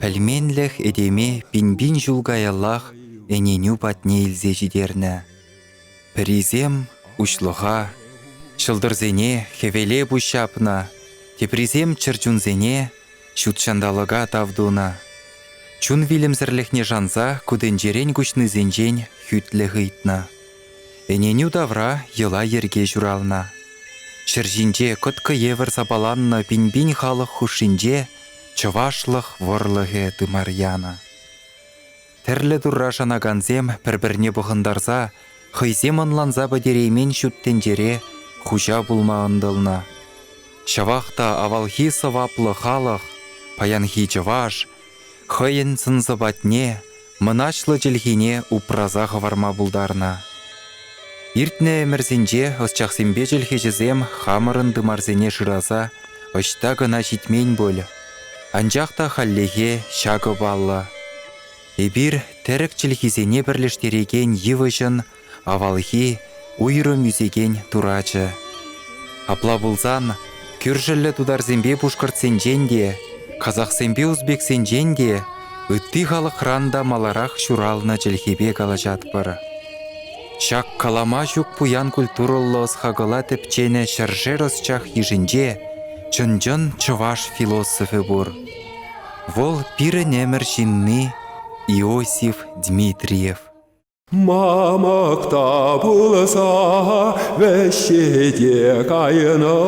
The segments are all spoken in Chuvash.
Пӗлменлӗх этеме пин-пин ҫул каяллах ӗненӳ патне илсе ҫитернӗ. Пӗрисем уҫлӑха, ҫӑлтӑрсене хӗвеле пуҫ ҫапнӑ, теприсем чӗрчунсене ҫут ҫанталӑка тав тунӑ. Чун вилӗмсӗрлӗхне шанса ку тӗнчерен куҫнисенчен хӳтлӗх ыйтнӑ. Ӗненӳ тавра йӑла-йӗрке ҫуралнӑ. Ҫӗр ҫинче кӑткӑ евӗр сапаланнӑ пин-пин халӑх хушшинче чӑвашлӑх вӑрлӑхӗ тымар янӑ. Тӗрлӗ турра шанакансем пӗр-пӗрне пӑхӑнтарса, хӑйсем ӑнланса пӗтереймен ҫут тӗнчере хуҫа пулма ӑнтӑлнӑ. Ҫавах та авалхи сӑваплӑ халӑх, паянхи чӑваш, хӑйӗн сӑн-сӑпатне, мӑнаҫлӑ чӗлхине упраса хӑварма пултарнӑ. Иртнӗ ӗмӗрсенче ӑсчахсемпе чӗлхеҫӗсем хамӑрӑн тымарсене шыраса ӑҫта кӑна ҫитмен пуль, анчах та хальлӗхе ҫакӑ паллӑ. Эпир тӗрӗк чӗлхисене пӗрлештерекен йывӑҫӑн Авалхи уйрӑм ӳсекен турачӗ. Апла пулсан, кӳршӗллӗ тутарсемпе пушкӑртсенчен те, казахсемпе узбексенчен те ытти халӑхран та маларах ҫуралнӑ чӗлхепе калаҫатпӑр. Ҫак калама ҫук пуян культурӑллӑ ӑс-хакӑла тӗпченӗ ҫӗршер ӑсчах йышӗнче чӑн-чӑн чӑваш философӗ пур. Вӑл пирӗн ӗмӗр ҫынни Иосиф Дмитриев. Мамӑк та пулса вӗҫҫете кайнӑ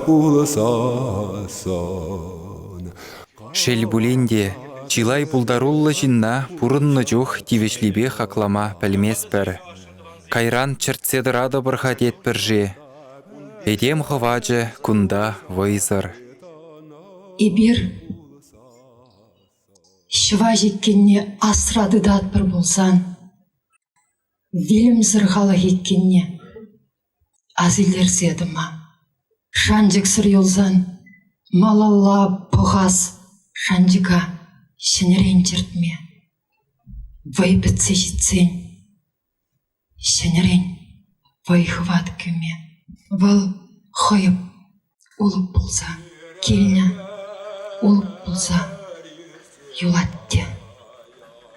пулсассӑн. Шел пулин те, чылай пултаруллӑ ҫынна пурӑннӑ чух тивӗҫлипе хаклама пӗлместпӗр. Кайран чӗртсе тӑратӑпӑр-ха тетпӗр-ши? Этем хӑвачӗ кунта вӑйсӑр. Эпир Ҫӑва ҫеккенне асра тытатпӑр пулсан, вилӗмсӗр халӑх иккенне асилтерсе тӑма, шанчӑксӑр юлсан малалла пӑхас шанчӑка ҫӗнӗрен чӗртме, вӑй пӗтсе ҫитсен. Ҫӗнӗрен вӑй-хӑват кӳме вӑл хӑйӑп улӑп пулса килнӗ, улӑп пулса юлать те.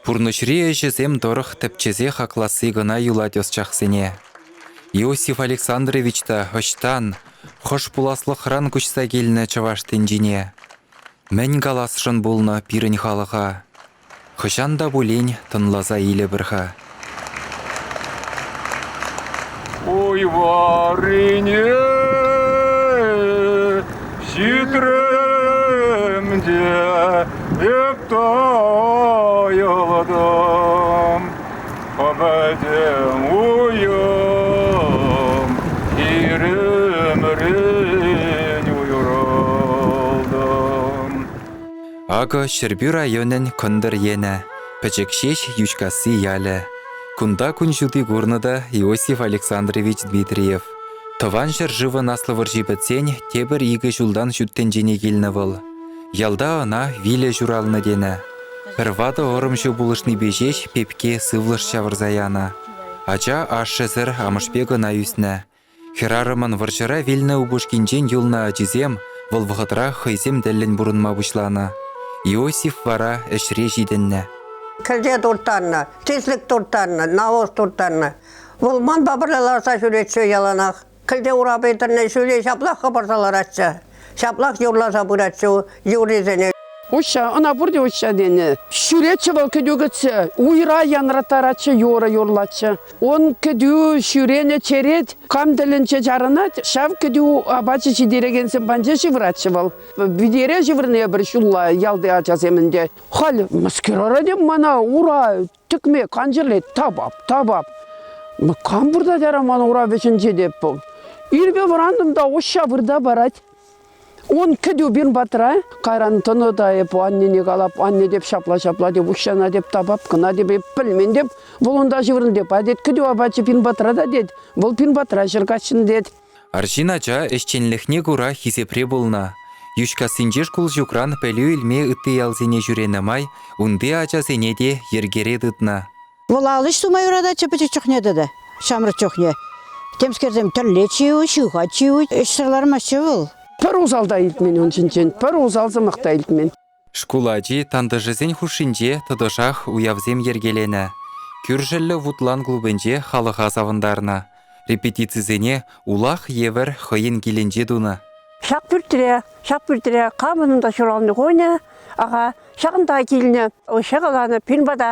Пурнӑҫри ӗҫӗсем тӑрӑх тӗпчесе хакласси кӑна юлать ӑсчахсене. Иосиф Александрович та ӑҫтан, хӑш пуласлӑхран куҫса килнӗ чӑваш тӗнчине? Мӗн каласшӑн пулнӑ пирӗн халӑха? Хӑҫан та пулин тӑнласа илӗпӗр-ха. Ой, варине ҫитрем те эп тайӑлтӑм. Пӗтӗм уйӑм хирӗмрен уйрӑлтӑм. Акӑ Ҫӗрпӳ районӗн Кӑнтӑр енӗ, пӗчӗк ҫеҫ Йӳҫкасси ялӗ. Кунта кун ҫути курнӑ та Иосиф Александрович Дмитриев. Тӑван ҫӗршывӑн Аслӑ вӑрҫи пӗтсен тепӗр икӗ ҫултан ҫут тӗнчене килнӗ вӑл. Ялта ӑна вилӗ ҫуралнӑ тенӗ. Пӗр ватӑ ӑрӑмҫӑ пулӑшнипе ҫеҫ пепке сывлӑш ҫавӑрса янӑ. Ача ашшӗсӗр амӑшпе кӑна ӳснӗ. Хӗрарӑмӑн вӑрҫӑра вилнӗ упӑшкинчен юлнӑ ачисем вӑл вӑхӑтрах хӑйсем тӗллӗн пурӑнма пуҫланӑ. Иосиф вара ӗҫре ҫитӗннӗ. Кӗлте турттарнӑ, тислӗк турттарнӑ, навоз турттарнӑ. Вӑл манпа пӗрле ларса ҫӳретчӗ яланах. Кӗлте урапи тӗлне ҫӳле ҫаплах хӑпарса ларатчӗ. Ҫаплах юрласа пыратчӗ юррисене. Уҫҫа, ӑна пурте уҫҫа тенӗ. Ҫӳретчӗ вӑл кӗтӳ кӗтсе. Уйра янраттаратчӗ, юрӑ юрлатчӗ. Ун кӗтӳ ҫӳренӗ черет кам тӗлӗнче чарӑнать, ҫав кӗтӳ апачӗ ҫитерекенсем панче ҫывӑратчӗ вӑл. Витере ҫывӑрнӑ эпир ҫулла ялти ачасем ӗнтӗ. Халь мӑскер арать мана, ура, Тӗкме кансӗрлет, тапап, тапап. Кам выртать ара ман урап вӗҫӗнче те? Ирпе вӑрантӑм та уҫҫа вырта парать. Он кӗтӳ пин патра, кайран тӑнӑ та эп аннене калап, анне теп ҫапла-ҫапла теп, уҫҫана теп тапап, кӑна теп, эп пӗлмен теп, вӑл унта ҫыврӑн теп, а тет, кӗтӳ апачӗ пин патра та тет, вӑл пин патра ҫӗр каҫҫын тет. Арҫын ача ӗҫченлӗхне кура хисепре пулнӑ. Йӳҫкассинчи шкул ҫукран пӗлӳ илме ытти ялсене ҫӳренӗ май унти ачасене те йӗркере тытнӑ. Вӑл ал ӗҫ тума юрататчӗ пӗчӗк чухне тата, ҫамрӑк чухне. Темскерсем тӗрлет ҫиӳ, ҫыхать ҫиӳ, ӗҫсӗр лармастчӗ вӑл. Пӗр усал та илтмен ун ҫинчен, пӗр усал сӑмах та илтмен. Шкул ачи тантӑшӗсен хушшинче тӑтӑшах уявсем йӗркеленӗ. Кӳршӗллӗ Вутлан клубӗнче халӑха савӑнтарнӑ. Репетицисене улах евӗр хӑйӗн килӗнче тунӑ. Ҫак пӳртре, ҫак пӳртре камӑн та ҫуралнӑ кунӗ, аха, ҫакӑнта килнӗ. Ҫӑкӑланӑ пин пата.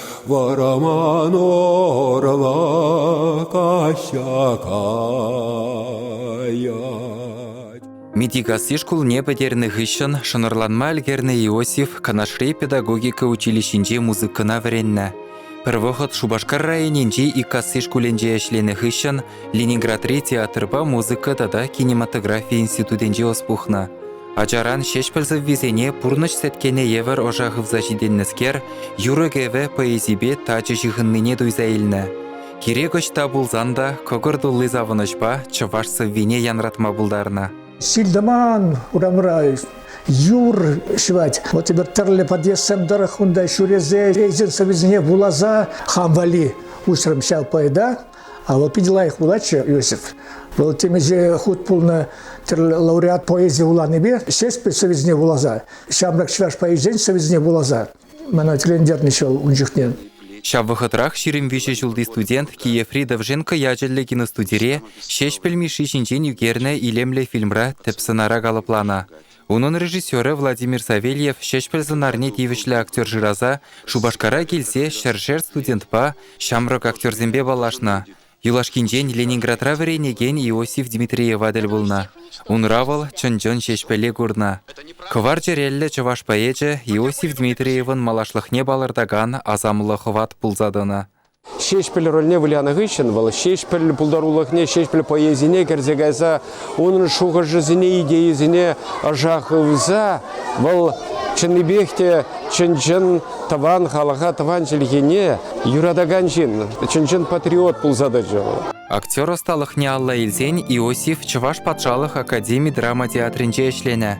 Вара ман орла каҫа каять. Митикасси шкулне пӗтернӗ хыҫҫӑн шӑнӑрланма ӗлкӗрнӗ Иосиф Канашри педагогика училищинче музыкӑна вӗреннӗ. Пӗр вӑхӑт Шупашкар районӗнчи Иккасси шкулӗнче ӗҫленӗ хыҫҫӑн Ленинградри театрпа музыка тата кинематографи институтӗнче ӑс пухнӑ. Ачаран ҫеҫпӗл сӑввисене пурнӑҫ сеткине евӗр ӑша хывса ҫитӗннӗскер юрӑ-кӗвӗ поэзипе тачӑ ҫыхӑннине туйса илнӗ. Кирек ӑҫта пулсан та кӑкӑр тулли савӑнӑҫпа чӑваш сӑввине янратма пултарнӑ. Ҫил-тӑман урамра юр ҫӑвать. Вот теперь тӗрлӗ подъездсем тӑрӑх унта ҫӳресе эйсен сӑввисене вуласа хам валли уҫрӑм ҫав поэта. А вӑл питӗ лайӑх вулатчӗ Иосиф. Вӑл темиҫе хут пулнӑ тӗрлӗ лауреат поэзи вуланипе Ҫеҫпӗл Союзне вуласа, ҫамрӑк чӑваш поэзийӗн Союзне вуласа мана тӗлӗнтернӗччӗ вӑл ун чухне. Ҫав вӑхӑтрах ҫирӗм виҫӗ ҫулти студент Киеври Довженко ячӗллӗ киностудире Ҫеҫпӗл Мишши ҫинчен ӳкернӗ илемлӗ фильмра тӗп сӑнара калӑпланӑ. Унӑн режиссерӗ Владимир Савельев Ҫеҫпӗл сӑнарне тивӗҫлӗ актер шыраса Шупашкара килсе ҫӗршер студентпа, ҫамрӑк актерсемпе паллашнӑ. Юлашкинчен Ленинградра вӗренекен Иосиф Дмитриева тӗл пулнӑ. Унра вӑл чӑн-чӑн ҫеҫпӗле курнӑ. Кӑвар чӗреллӗ чӑваш поэчӗ Иосиф Дмитриевӑн малашлӑхне палӑртакан асамлӑ хӑват пулса тӑнӑ. Ҫеҫпӗл рольне вылянӑ хыҫҫӑн вӑл Ҫеҫпӗл пултарулӑхне, Ҫеҫпӗл поэзине кӗрсе кайса унӑн шухӑшӗсене, идейисене ӑша хывса вӑл чӑннипех те чӑн-чӑн тӑван халӑха, тӑван чӗлхене юратакан ҫын, чӑн-чӑн патриот пулса тӑчӗ вӑл. Актер ӑсталӑхне алла илсен Иосиф Чӑваш патшалӑх академи драма театрӗнче ӗҫленӗ.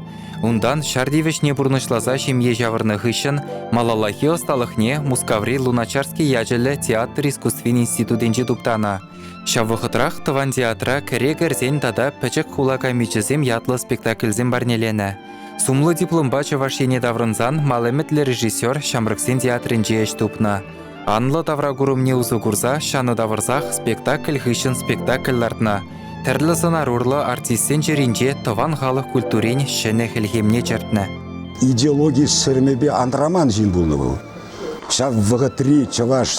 Унтан ҫар тивӗҫне пурнӑҫласа ҫемье ҫавӑрнӑ хыҫҫӑн малаллахи ӑсталӑхне Мускаври Луначарский ячӗллӗ театр искусствин институтӗнче туптанӑ. Ҫав вӑхӑтрах тӑван театра кӗре кӗрсен тата пӗчӗк хула камичӗсем ятлӑ спектакльсем парнеленӗ. Сумлӑ дипломпа Чӑваш Ене таврӑнсан мал ӗмӗтлӗ режиссер ҫамрӑксен театрӗнче ӗҫ тупнӑ. Анлӑ тавра курӑмне усӑ курса ҫанӑ тавӑрсах спектакль хыҫҫӑн спектакль лартнӑ. Тӗрлӗ сӑнар урлӑ артистсен чӗринче тӑван халӑх культурин ҫӗнӗ хӗлхемне чӗртнӗ. Идеологи сӗрмепе антраман ҫын пулнӑ вӑл. Ҫав вӑхӑтри чӑваш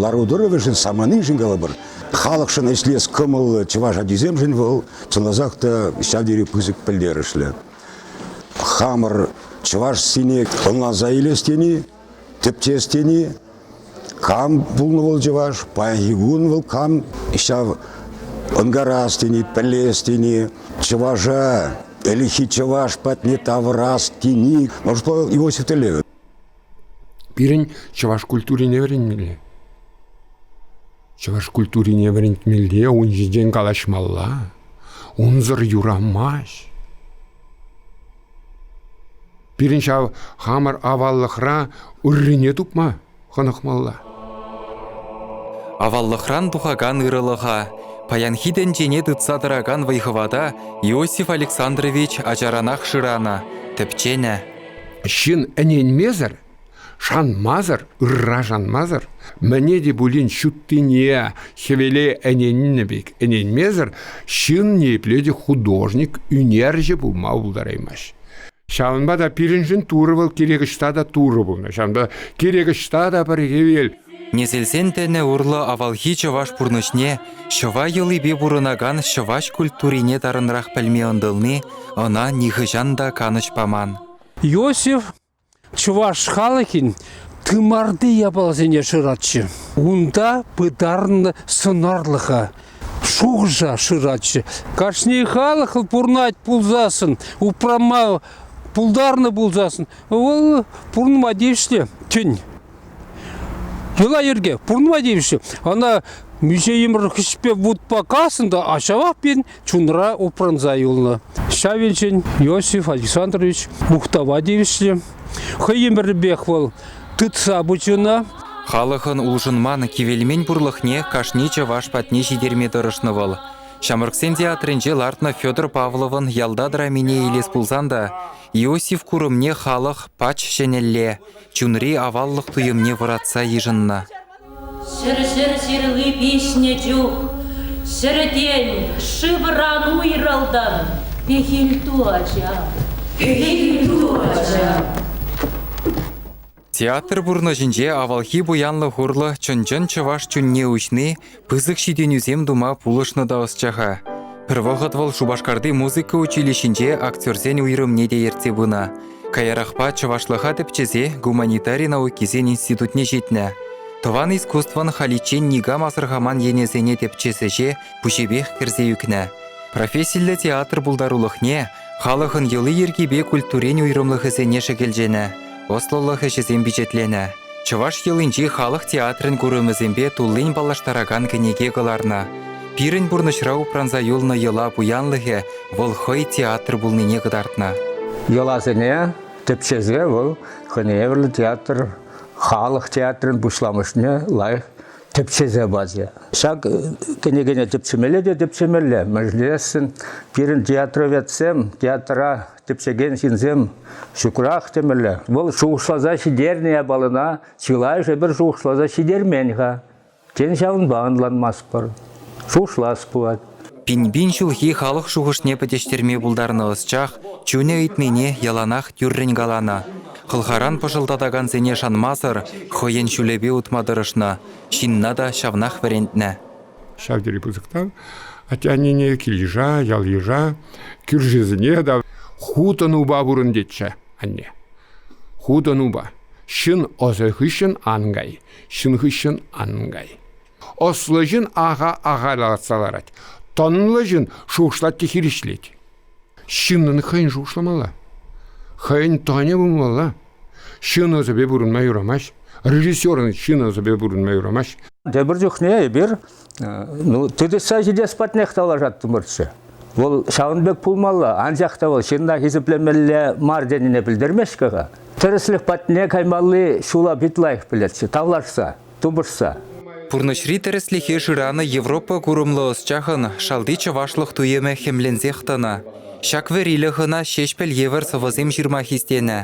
лару-тӑрӑвӗшӗн саманиншӗн калӑпӑр, халӑхшӑн ӗҫлес кӑмӑллӑ чӑваш ачисемшӗн вӑл чӑнласах та ҫав тери пысӑк пӗлтерӗшлӗ. Хамӑр чӑваш сине ӑнланса илес тени Тӗпчес тени кам пулнӑ вӑл чӑваш, паянхи кун вӑл кам ҫав ӑнкарас тени, пӗлес тени, чӑваша ӗлӗкхи чӑваш патне тавӑрас тени, Моршло Иосиф тӗллевӗ. Пирӗн чӑваш культурине вӗрентмелле. Чӑваш культурине вӗрентмелле, ун ҫинчен калаҫмалла. Унсӑр юрамасть. Пирӗн ҫав хамӑр аваллӑхра ыррине тупма хӑнӑхмалла. Аваллӑхран тухакан ырӑлӑха, паянхи тӗнчене тытса тӑракан вӑй-хӑвата Иосиф Александрович ачаранах шыранӑ, тӗпченӗ. Ҫын ӗненмесӗр Шанмасӑр, ырра шанмасӑр, мӗне те пулин ҫуттине, хӗвеле ӗненнӗ пек ӗненмесӗр ҫын ниепле те художник, ӳнерҫӗ пулма пултараймасть. Ҫавӑнпа та пирӗншӗн Турӑ вӑл кирек ӑҫта та Турӑ пулнӑ. Ҫавӑнпа кирек ӑҫта та пӗр хӗвел. Несӗлсен тӗнӗ урлӑ авалхи чӑваш пурнӑҫне, ҫӑва йӑлипе пурӑнакан чӑваш культурине тарӑнрах пӗлме ӑнтӑлни ӑна нихӑҫан та канӑҫ паман. Иосиф Чӑваш халӑхӗн тымарти япаласене шыратчӗ. Унта пытарнӑ сӑнарлӑха, шухӑша шыратчӗ. Кашни халӑх пурӑнать пулсассӑн, упрама пултарнӑ пулсассӑн, вӑл пурӑнма тивӗҫлӗ тӗн. Йӑла-йӗрке пурӑнма тивӗҫлӗ. Ӑна музейӑмӑр хӗҫпе вутпа каснӑ та ҫавах пин чунра упранса юлнӑ. Ҫавинчен Иосиф Александрович мухтава тивӗҫлӗ. Хӑй ӗмӗрӗпех вӑл тытса пычӗ ӑна. Халӑхӑн улшӑнман, кивелмен пурлӑхне кашни чӑваш патне ҫитерме тӑрӑшнӑ вӑл. Ҫамрӑксен театрӗнче лартнӑ Федор Павловӑн ялта драмине илес пулсан та Иосиф курӑмне халӑх пач ҫӗнӗлле, чунри аваллӑх туйӑмне вӑратса йышӑннӑ. Ҫӗр-ҫӗр ҫырли пиҫнӗ чух ҫӗртен шывран уйрӑлтӑм. Пехилту, ача, пехилту, ача. Театр пурнӑҫӗнче авалхи пуянлӑх урлӑ чӑн-чӑн чӑваш чунне уҫни пысӑк ҫитӗнӳсем тума пулӑшнӑ та ӑсчаха. Пӗр вӑхӑт вӑл Шупашкарти музыка училищинче актерсен уйрӑмне те ертсе пынӑ. Каярахпа чӑвашлӑха тӗпчесе гуманитари наукисен институтне ҫитнӗ. Тӑван искусствӑн халиччен никам асӑрхаман енӗсене тӗпчес ӗҫе пуҫӗпех кӗрсе ӳкнӗ. Профессиллӗ театр пултарулӑхне Халӑхӑн йӑли-йӗркипе культурин уйрӑмлӑхӗсене шӗкӗлченӗ, ӑслӑлӑх ӗҫӗсем пичетленӗ. Чӑваш йӑлинчи халӑх театрӗн курӑмӗсемпе туллин паллаштаракан кӗнеке кӑларнӑ. Пирӗн пурнӑҫра упранса юлнӑ йӑла пуянлӑхӗ вӑл хӑй театр пулнине кӑтартнӑ. Йӑласене тӗпчесе вӑл хӑйне евӗрлӗ театр, халӑх театрӗн пуҫламӑшне лайӑх тӗпчесе пачӗ. Ҫак кӗнекене тӗпчемелле те тӗпчемелле. Мӗнлесшӗн пирӗн театроведсем, театра тӗпчекен ҫынсем ҫукрах темелле. Вӑл шухӑшласа ҫитернӗ япалана чылайӑшӗ пӗр шухӑшласа ҫитермен-ха. Тен, ҫавӑнпа ӑнланмастпӑр. Шухӑшлас пулать. Пин-пин ҫулхи халӑх шухӑшне пӗтӗҫтерме пултарнӑ ӑсчах чунӗ ыйтнине яланах тӳррӗн каланӑ. Хӑлхаран пӑшӑлтатакансене шанмасӑр хӑйӗн ҫулӗпе утма тӑрӑшнӑ, ҫынна та ҫавнах вӗрентнӗ. Ҫав тери пысӑктан атте-аннене кил-йыша, ял-йыша, кӳршисене та хутӑнупа пурӑн тетчӗ анне. Хутӑнупа. Ҫын ӑсӗ хыҫҫӑн ан кай, ҫын хыҫҫӑн ан кай. Ӑслӑ ҫын аха-аха лартса ларать. Тӑнлӑ ҫын шушлать те хирӗҫлет. Ҫыннӑн хӑйӗн шушламалла. Хӑйӗн тӑнӗ пулмалла. Ҫын ӑсӗпе пурӑнма юрамасть. Режиссерӑн ҫын ӑсӗпе пурӑнма юрамасть. Тепӗр чухне эпир ну, тытӑҫса ҫитес патнех тавлашаттӑмӑрччӗ. Вӑл ҫавӑн пек пулмалла, анчах та вӑл ҫынна хисеплемелле мар тенине пӗлтермест-ха. Тӗрӗслӗх патне каймалли ҫула пит лайӑх пӗлетчӗ, тавлашса. тупӑшса. Пурнӑҫри тӗрӗслӗхе шыранӑ Европа курӑмлӑ ӑсчахӑн шалти чӑвашлӑх туйӑмӗ хӗмленсех тӑнӑ. Ҫак вӗрилӗх ӑна Ҫеҫпӗл евӗр сӑвӑсем ҫырма хистенӗ.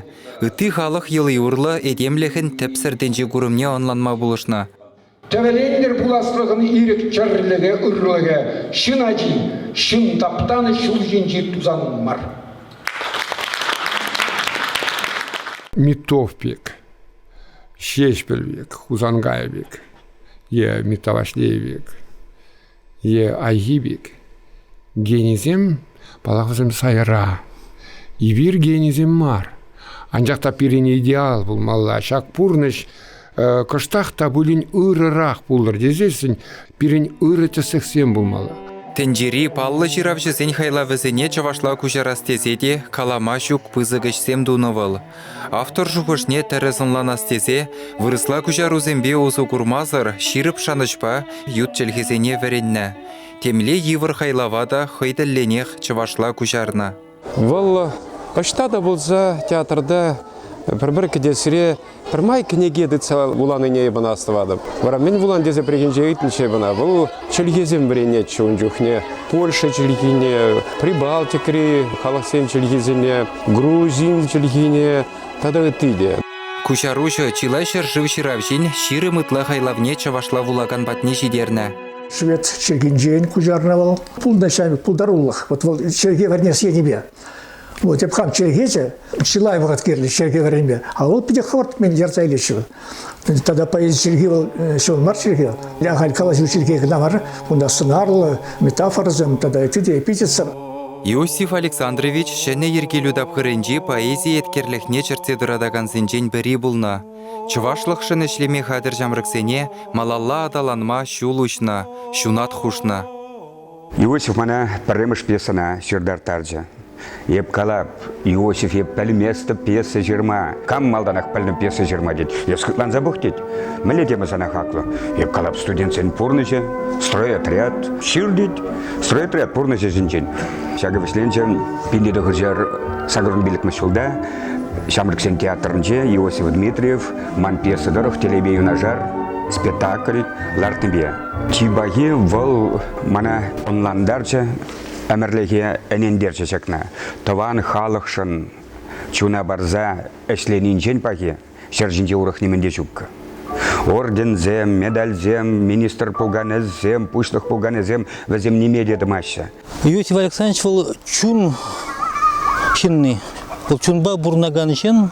Ытти халӑх йӑли урлӑ этемлӗхӗн тӗпсӗр тӗнче курӑмне ӑнланма пулӑшнӑ. Тӗвӗлентӗр пуласлӑхӑн ирӗк чӗрлӗхӗ, ырлӑхӗ, ҫын ачи, ҫын таптанӑ ҫул ҫинчи тусан мар. Митовпик Ҫеҫпӗл пек, Хусанкай пек, е Миттаваҫлей пек, е Айхи пек генисем, паллахӑсем сайра. Эпир генисем мар. Анчах та пирӗн идеал пулмалла. Ҫак пурнӑҫ кӑштах та пулин ырӑрах пулӑр тесессӗн пирӗн ырӑ тӗслӗхсем пулмалла. Тӗнчери паллӑ ҫыравҫӑсен хайлавӗсене чӑвашла куҫарас тесе те калама ҫук пысӑк ӗҫсем тунӑ вӑл. Автор шухӑшне тӗрӗс ӑнланас тесе вырӑсла куҫарусемпе усӑ курмасӑр ҫирӗп шанӑҫпа ют чӗлхесене вӗреннӗ. Темле йывӑр хайлава та хӑй тӗллӗнех чӑвашла куҫарнӑ. Вӑл ӑҫта та пулса театрта пӗр-пӗр кӗтесре пӗрмай кӗнеке тытса вуланине эпӗ ӑна астӑватӑп. Вара мӗн вулан тесе пӗррехинче ыйтнӑччӗ эпӗ ӑна. Вӑл чӗлхесем вӗренетчӗ ун чухне. Польша чӗлхине, Прибалтикри халӑхсен чӗлхисене, грузин чӗлхине тата ытти те. Куҫаруҫӑ чылай ҫӗршыв ҫыравҫин ҫирӗм ытла хайлавне чӑвашла вулакан патне ҫитернӗ. Швед чӗлхинчен куҫарнӑ вӑл. Пулнӑ ҫав пултарулӑх. Вот вӑл чӗлхе вӗренес енӗпе. Вот Эпхан чехече чылай вӑхӑт кирлӗ ҫерке вӗренме, а вӑл питӗ хӑвӑрт мӗн ярса илеҫҫӗ. Тата поэзи чӗлхи вӑл ҫӑвӑн мар чӗлхе. Я халь калаҫу чӗлхе кӑна мар, унта сӑнарлӑ, метафорӑсем тата ытти эпитетсем. Иосиф Александрович ҫӗнӗ йӗркелӳ тапхӑрӗнчи поэзи еткерлӗхне чӗртсе тӑратакансенчен пӗри пулнӑ. Чӑвашлӑхшӑн ӗҫлеме хатӗр ҫамрӑксене малалла аталанма ҫул уҫнӑ, ҫунат хушнӑ. Иосиф мана пӗрремӗш пьесӑна ҫыртарттарчӗ. Эп калап, Иосиф, эп пӗлместӗп пьеса ҫырма. Кам малтанах пӗлнӗ пьеса ҫырма тет. Эс хӑтланса пӑх тет. Мӗнле тема сана хаклӑ? Эп калап студентсен пурнӑҫӗ, стройотряд, ҫыр тет. Стройотряд пурнӑҫӗ ҫинчен. Ҫакӑ вӗҫленчӗ пинле тӑхӑрҫар сакӑрмиллӗкмӗш ҫулта Ҫамрӑксен театрӗнче Иосиф Дмитриев ман пьеса тӑрӑх телейпе юнашар спектакль лартнипе Чи пахи вӑл мана ӑнлантарчӗ, ӗмӗрлӗхе ӗнентерчӗ ҫакна. Тӑван халӑхшӑн чуна парса ӗҫленинчен пахи ҫӗр ҫинче урӑх нимӗн те ҫуккӑ. Орденсем, медальсем, министр пуканесем, пуҫлӑх пуканесем вӗсем ниме те тӑмаҫҫӗ. Юрий Александрович вӑл чун ҫынни, вӑл чунпа пурӑнакан ҫын.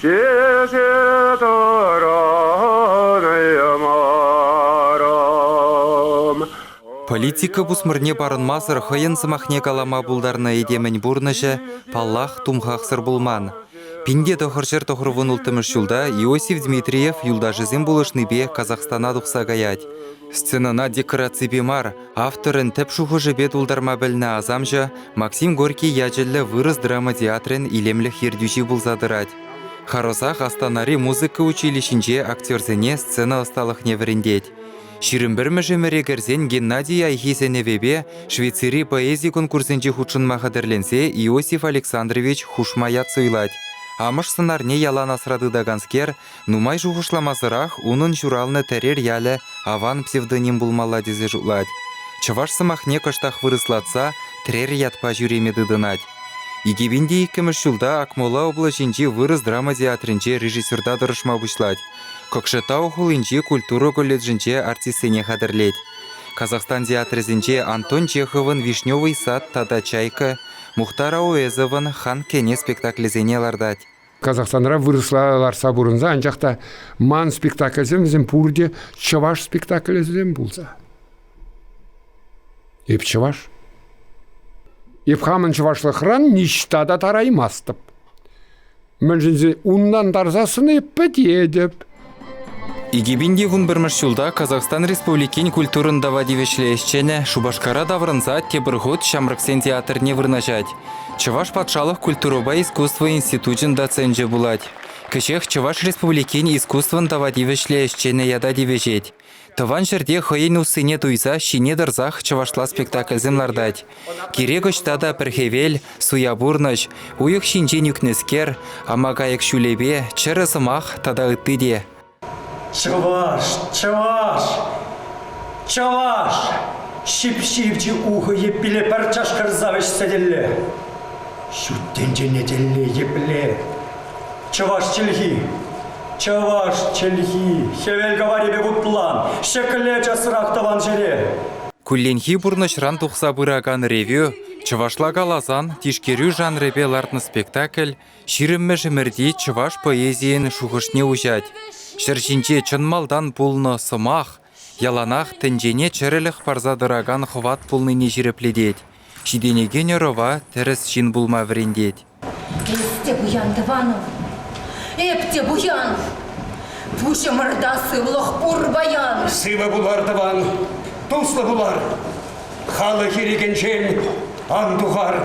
Ҫисе тӑрӑнаймарӑм. Политика пусмӑрне парӑнмасӑр хӑйӗн сӑмахне калама пултарнӑ этемӗн пурнӑҫӗ, паллах, тумхахсӑр пулман. Пинте тӑхӑрҫӗр тӑхӑрвун улттӑмӗш ҫулта Иосиф Дмитриев юлташӗсем пулӑшнипе Казахстана тухса каять. Сценӑна декораципе мар, Авторӑн тӗп шухӑшӗпе тултарма пӗлнӗ асамҫӑ Максим Горький ячӗллӗ вырӑс драма театрӗн илемлӗх ертӳҫи пулса тӑрать. Харӑсах Астанари музыка училищинче актерсене сцена ӑсталӑхне вӗрентет. Ҫирӗм пӗрмӗш ӗмӗре кӗрсен Геннадий Айхи сӗнӗвӗпе Швейцари поэзи конкурсӗнче хутшӑнма хатӗрленсе Иосиф Александрович хушма ят суйлать. Амӑш сӑнарне ялан асра тытаканскер Нумай шухӑшламасӑрах унӑн ҫуралнӑ Тӗрер ялӗ аван псевдоним пулмалла тесе шутлать. Чӑваш сӑмахне кӑштах вырӑслатса Трер ятпа ҫӳреме тытӑнать. 2002 ҫулта Акмола облаҫӗнчи вырӑс драма театрӗнче режиссерта тӑрӑшма пуҫлать. Кокшетау хулинчи культура колледжӗнче артистсене хатӗрлет. Казахстан театрӗсенче Антон Чеховӑн «Вишневый сад» тата «Чайка», Мухтар Ауэзовӑн «Хан кене» спектаклӗсене лартать. Казахстанра вырӑсла ларса пурӑнса анчах та ман спектакльсем вӗсем пурте чӑваш спектаклӗсем пулса. Эп чӑваш. Эп хамӑн чӑвашлӑхран ниҫта та тараймастӑп. Мӗншӗн уннан тарсассӑн эп пӗтетӗп. Икӗ пин вунпӗрмӗш ҫулта Казахстан Республикин культурӑн тава тивӗҫлӗ ӗҫченӗ Шупашкара таврӑнса тепӗр хут ҫамрӑксен театрне вырнаҫать. Чӑваш патшалӑх культурӑпа искусство институчӗн доценчӗ пулать. Кӗҫех Чӑваш Республикин искусствӑн тава тивӗҫлӗ ӗҫченӗ ята тивӗҫет. Тӑван ҫӗрте хӑйӗн уссине туйса ҫине тӑрсах чӑвашла спектакльсем лартать. Кирек ӑҫта та пӗр хӗвел, суя пурнӑҫ, уйӑх ҫинчен ӳкнӗскер, амакайӑк ҫулӗпе, чӗрӗ сӑмах тата ытти те. Чӑваш, чӑваш, чӑваш! Ҫип-ҫивӗч ухӑ йӗппиле пӗр чашкӑрса вӗҫсе тӗлле. Ҫут тӗнчене тӗлле епле Чӑваш чӗлхи, чӑваш чӗлхи, хӗвел каварӗпе вутлан, ҫӗкле часрах тӑван ҫӗре. Кулленхи пурнӑҫран тухса пыракан ревю чӑвашла каласан тишкерӳ жанрӗпе лартнӑ спектакль ҫирӗммӗш ӗмӗрти чӑваш поэзийӗн шухӑшне уҫать. Ҫӗр ҫинче чӑн малтан пулнӑ сӑмах, яланах тӗнчене чӗрӗлӗх парса тӑракан хӑват пулнине ҫирӗплетет, ҫитӗнекен ӑрӑва тӗрӗс ҫын пулма вӗрентет. Эс те пуян, тӑванӑм, эп те пуян. Пуҫӑмӑрта сывлӑх пур паян. Сывӑ пулар, тӑван, туслӑ пулар, халӑх ирӗкӗнчен ан тухар.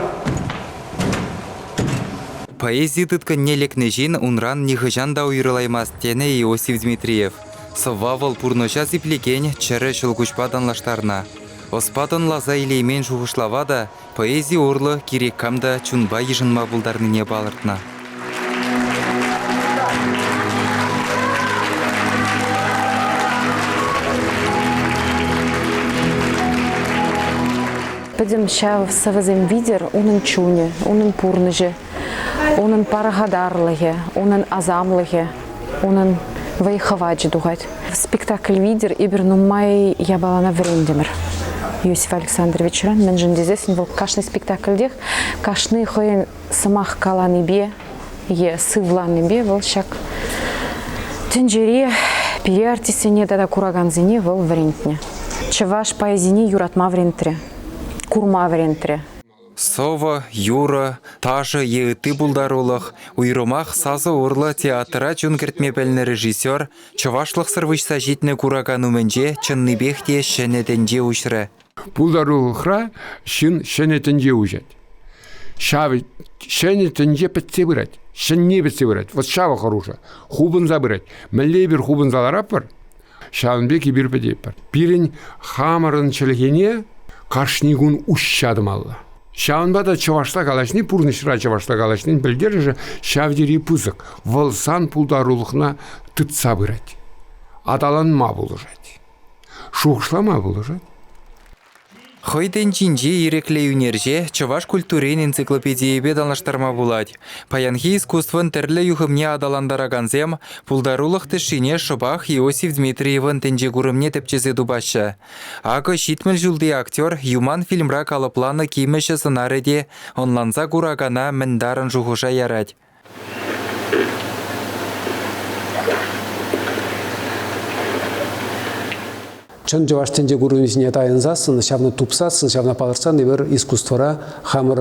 Поэзи тыткӑнне лекнӗ ҫын унран нихӑҫан та уйрӑлаймасть, тенӗ Иосиф Дмитриев. Сӑвва вӑл пурнӑҫа сиплекен чӗрӗ ҫӑлкуҫпа танлаштарнӑ. Ӑспа тӑнласа илеймен шухӑшлава та, поэзи урлӑ кирек кам та чунпа йышӑнма пултарнине палӑртнӑ. Пӗтӗм ҫав сӑвӑсем витӗр унӑн чунӗ, унӑн пурнӑҫӗ, унӑн пархатарлӑхӗ, унӑн асамлӑхӗ, унӑн вӑй хӑвачӗ тухать. Спектакль витӗр эпир нумай япалана вӗрентӗмӗр. Иосиф Александровичран мӗншӗн тесессӗн вӑл кашни спектакльтех кашни хӑйӗн сӑмах каланипе е сывланипе вӑл ҫак тӗнчери пире артистсене тата куракансене вӑл вӗрентнӗ. Чӑваш поэзине юратма вӗрентрӗ, курма вӗрентрӗ. Сӑвӑ, юрӑ, ташӑ е ытти пултарулӑх, уйрӑмах сасӑ урлӑ театра чун кӗртме пӗлнӗ режиссер чӑвашлӑхсӑр выҫса ҫитнӗ куракан умӗнче чӑннипех те ҫӗнӗ тӗнче уҫрӗ. Пултарулӑхра ҫын ҫӗнӗ тӗнче уҫать. Ҫав ҫӗнӗ тӗнче пӗтсе пырать, ҫӗнни пӗтсе пырать. Вот ҫавӑ хӑрушӑ. Хупӑнса пырать. Мӗнле эпир хупӑнса ларатпӑр? Ҫавӑн пек эпир пӗтетпӗр. Пирӗн хамӑрӑн чӗлхене кашни кун уҫҫа тӑмалла. Ҫавӑнпа та чӑвашла калаҫни, пурнӑҫра чӑвашла калаҫнин пӗлтерӗшӗ ҫав тери пысӑк. Вӑл сан пултарулӑхна тытса пырать, аталанма пулӑшать, шухӑшлама пулӑшать. Хӑй тӗнчинчи ирӗклӗ ӳнерҫе чӑваш культурин энциклопедийӗпе танлаштарма пулать. Паянхи искусствӑн тӗрлӗ юхӑмне аталантаракансем пултарулӑх тӗшшине шӑпах Иосиф Дмитриевӑн тӗнче курӑмне тӗпчесе тупаҫҫӗ. Акӑ ҫитмӗл ҫулти актер Юман фильмра калӑпланӑ кимӗҫӗ сӑнарӗ те ӑнланса куракана мӗн тарӑн шухӑша ярать. Чӑн чӑваш тӗнче курӑнӑвӗсене тайӑнсассӑн, ҫавна тупсассӑн, ҫавна палӑртсан эпир искусствӑра хамӑр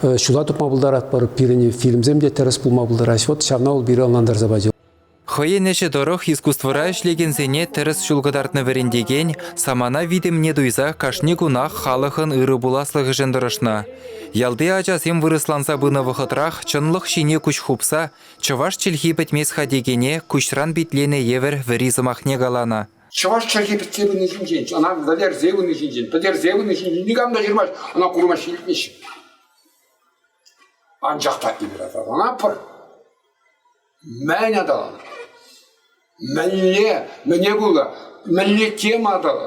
ҫула тупма пултаратпӑр. Пирӗн фильмсем те тӗрӗс пулма пултараҫҫӗ. Вот ҫавна ол пире ӑнлантарса пачӗ. Хӑйӗн ӗҫӗ тӑрӑх искусствӑра ӗҫлекенсене тӗрӗс ҫул кӑтартнӑ вӗрентекен самана витӗмне туйса кашни кунах халӑхӑн ырӑ пуласлӑхӗшӗн тӑрӑшнӑ. Ялти ачасем вырӑсланса пынӑ вӑхӑтрах чӑнлӑх ҫине куҫ хупса чӑваш чӗлхи пӗтмест-ха текене куҫран питленӗ евӗр вӗри сӑмахне каланӑ. Чӑваш чӗлхи пӗтсе пыни ҫинчен, ӑна вӗлерсе пыни ҫинчен, пӗтерсе пыни ҫинчен никам та ҫырмасть, ӑна курма ҫитмеҫҫӗ. Анчах та ибратор ӑна пӑр. Мӗн атӑл? Мӗнле, мӗне пулӑ? Мӗнле тема атӑл?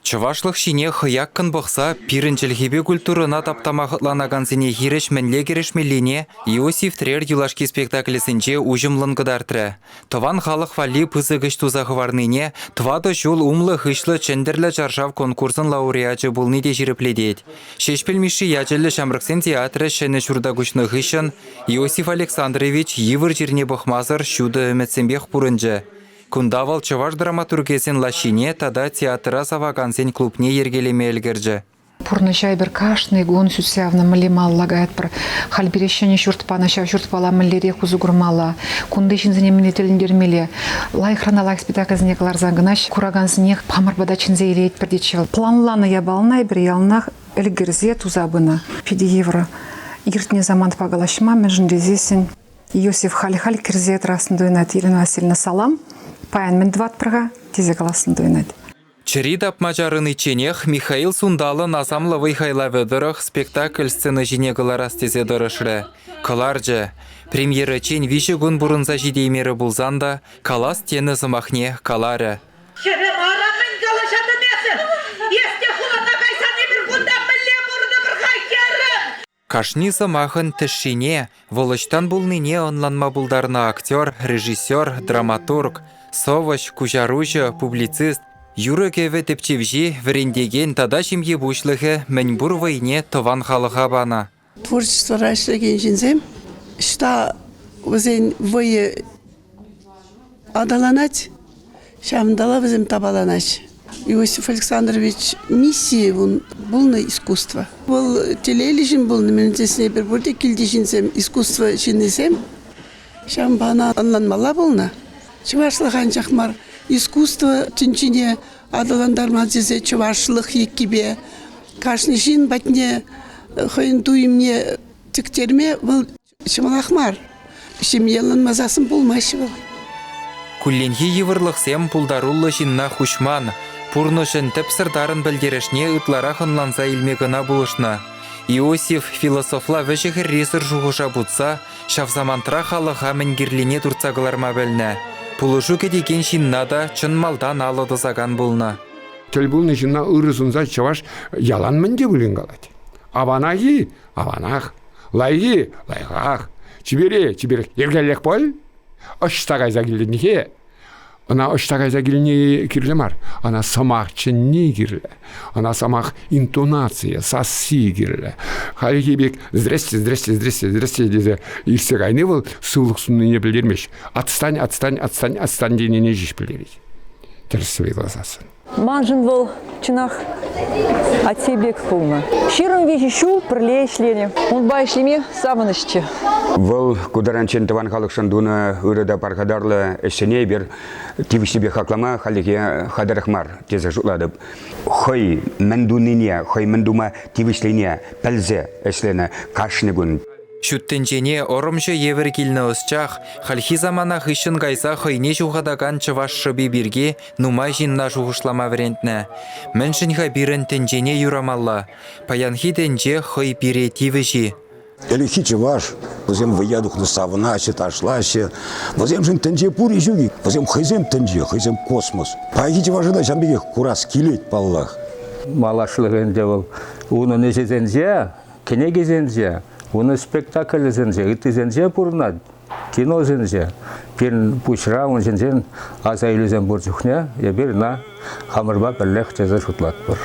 Чӑвашлӑх ҫине хӑяккӑн пӑхса пирӗн чӗлхепе культурӑна таптама хӑтланакансене хирӗҫ мӗнле кӗрешмеллине Иосиф Трер юлашки спектаклӗсенче уҫӑмлӑн кӑтартрӗ. Тӑван халӑх валли пысӑк ӗҫ туса хӑварнине тӑватӑ ҫул умлӑ-хыҫлӑ Чӗнтӗрлӗ чаршав конкурсӑн лауреачӗ пулни те ҫирӗплетет. Ҫеҫпӗл Мишши ячӗллӗ ҫамрӑксем театрӗ ҫӗнӗ ҫурта куҫнӑ хыҫҫӑн Иосиф Александрович йывӑр чирне пӑхмасӑр ҫутӑ ӗмӗтсемпех пурӑнчӗ. Кунта вӑл чӑваш драматургесен лаҫҫине тата театра савакансен клубне йӗркелеме ӗлкӗрчӗ. Пурнӑҫа эпир кашни кун сӳтсе явнӑ мӗнле мал лакаятпӑр. Халь пире ҫӗнӗ ҫурт панӑ, ҫав ҫуртпала мӗнлерех усӑ курмалла, кунти ҫынсене мӗнле тӗлӗнтермелле. Лайӑхран лайӑх спектакльсене кӑларсан кӑна куракансенех хамӑр пата чӗнсе илетпӗр тетчӗ вӑл. Планланӑ япалана эпир яланах ӗлкӗрсе туса пынӑ. Питӗ йывӑр. Иртнӗ самантпа калаҫма мӗншӗн тесессӗн Иосиф халь-халь кӗрсе тӑрассӑн туйӑнать. Ирина Васильевна салам, паян мӗн тӑватпӑр-ха тесе калассӑн туйӑнать. Чӗри тапма чарӑничченех Михаил Сунталӑн асамлӑ вӑй-хайлавӗ тӑрӑх спектакль сцена ҫине кӑларас тесе тӑрӑшрӗ. Кӑларчӗ. Премьерӑччен виҫӗ кун пурӑнса ҫитеймерӗ пулсан та калас тенӗ сӑмахне каларӗ. Хӗрӗ, ара, мӗн калаҫатӑн эсӗ? Эс те хулана кайсан эпир кунта мӗнле пурӑнӑпӑр-ха, хӗрӗм? Кашни сӑмахӑн тӗшшине, вӑл ӑҫтан пулнине ӑнланма пултарнӑ актер, режиссер, драматург, сӑвӑҫ, куҫаруҫӑ, публицист, юрӑ-кӗвӗ тӗпчевҫи, вӗрентекен тата ҫемье пуҫлӑхӗ мӗнпур вӑйне тӑван халӑха панӑ. Творчествӑра ӗҫлекен ҫынсем ӑҫта вӗсен вӑйӗ Аталанать. Ҫавӑнталла вӗсем тапаланать. Иосиф Александрович миссийӗ пулнӑ искусство. Вӑл телейлӗ ҫын пулнӑ. Мӗн тесен эпир пурте килти ҫынсем, искусство ҫыннисем. Ҫавӑнпа ӑна ӑнланмалла пулнӑ. Чӑвашлӑх анчах мар, искусство тӗнчине аталантарма тесе чӑвашлӑх еккипе кашни ҫын патне хӑйӗн туйӑмне тӗктерме вӑл Ҫӑмӑлах мар. Ҫемье ӑнланмасассӑн пулмасть вӑл. Кулленхи йывӑрлӑхсем пултаруллӑ ҫынна хуҫман, пурнӑҫӑн тӗпсӗр тарӑн пӗлтерӗшне ытларах ӑнланса илме кӑна пулӑшнӑ. Иосиф философла вӗҫӗ-хӗррисӗр шухӑша путса ҫав самантра халӑха мӗн кирлине туртса кӑларма пӗлнӗ. Пулӑшу кӗтекен ҫынна та чӑн малтан алӑ тӑсакан пулнӑ. Тӗл пулнӑ ҫынна ырӑ сунса чӑваш ялан мӗн те пулин калать. Аванах-и? Аванах, лайӑхи лайӑхах, чипере чиперех йӗркеллех пуль. Ӑҫта кайса килнӗхе ӑна ӑҫта кайса килни кирлӗ мар. Ӑна сӑмах чӗнни кирлӗ. Ӑна сӑмах интонацийӗ, сасси кирлӗ. Хальхи пек здрасте, здрасте, здрасте, здрасте тесе илсе кайни вӑл сывлӑх суннине пӗлтермест. Отстань, отстань, отстань, отстань тенине ҫеҫ пӗлтерет. Тӗрӗс суйласассӑн. Маншӑн вӑл чӑнах атте пек пулнӑ. Ҫирӗм виҫӗ ҫул пӗрле ӗҫленӗ. Унпа ӗҫлеме савӑнӑҫчӗ. Вӑл ку таранччен тӑван халӑхшӑн тунӑ ырӑ та пархатарлӑ ӗҫсене эпир тивӗҫлипе хаклама хальлӗхе хатӗрех мар тесе шутлатӑп. Хӑй мӗн тунине, хӑй мӗн тума тивӗҫлине пӗлсе ӗҫленӗ кашни кун. Ҫут тӗнчене ӑрӑмҫӑ евӗр килнӗ ӑсчах хальхи самана хыҫҫӑн кайса хӑйне ҫухатакан чӑваш шӑпи пирки Нумай ҫынна шухӑшлама вӗрентнӗ. Мӗншӗн-ха пирӗн тӗнчене юрамалла? Паянхи тӗнче хӑй пире тивӗҫ-и? Ӗлӗкхи чӑваш, вӗсем вӑййа тухнӑ савӑнаҫҫӗ, ташлаҫҫӗ. Вӗсемшӗн тӗнче пур-и ҫук-и? Вӗсем хӑйсем тӗнче, хӑйсем космос. Паянхи чӑваша та ҫавӑн пекех курас килет, паллах. Малашлӑх ӗнтӗ вӑл. Унӑн ӗҫӗсенче, кӗнекисенче, унӑн спектаклӗсенче, ыттисенче пурӑнать. кино сӗнче пирӗн пуҫра ун ҫинчен аса илӳсем пур чухне эпир ӑна хамӑрпа пӗрлех тесе шутлатпӑр.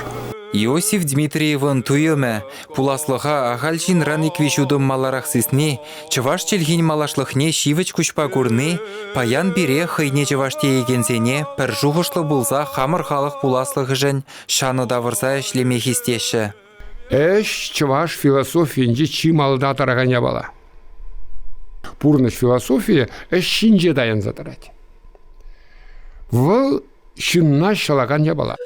Иосиф Дмитриевӑн туйӑмӗ, пуласлӑха ахаль ҫынран ик-виҫ утӑм маларах сисни, чӑваш чӗлхин малашлӑхне ҫивӗч куҫпа курни паян пире хӑйне чӑваш теекенсене пӗр шухӑшлӑ пулса хамӑр халӑх пуласлӑхӗшӗн ҫанӑ тавӑрса ӗҫлеме хистеҫҫӗ. Ӗҫ чӑваш философийӗнче чи малта тӑракан япала. Пурнӑҫ философийӗ ӗҫ ҫинче таянса тӑрать. Вӑл ҫынна ҫӑлакан япала.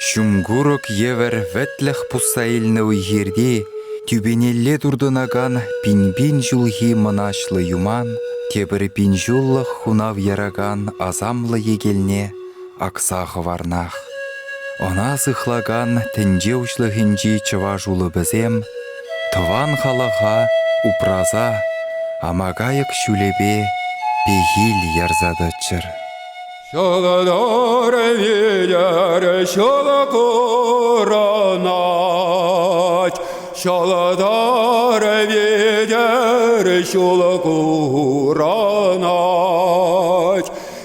Ҫум курӑк евӗр вӗтлӗх пусса илнӗ уй-хирти тӳпенелле туртӑнакан пин-пин ҫулхи мӑнаҫлӑ юман тепӗр пин ҫуллӑх хунав яракан асамлӑ йӗкелне акса хӑварнах. Ӑна сыхлакан тӗнче уҫлӑхӗнчи чӑваш улӑпӗсем тӑван халӑха упраса амакайӑк ҫулӗпе пехил ярса тӑччӑр. Ҫӑлӑтӑр витер ҫӑлӑ курӑнать, ҫӑлӑтӑр витер ҫулӑ курӑнать.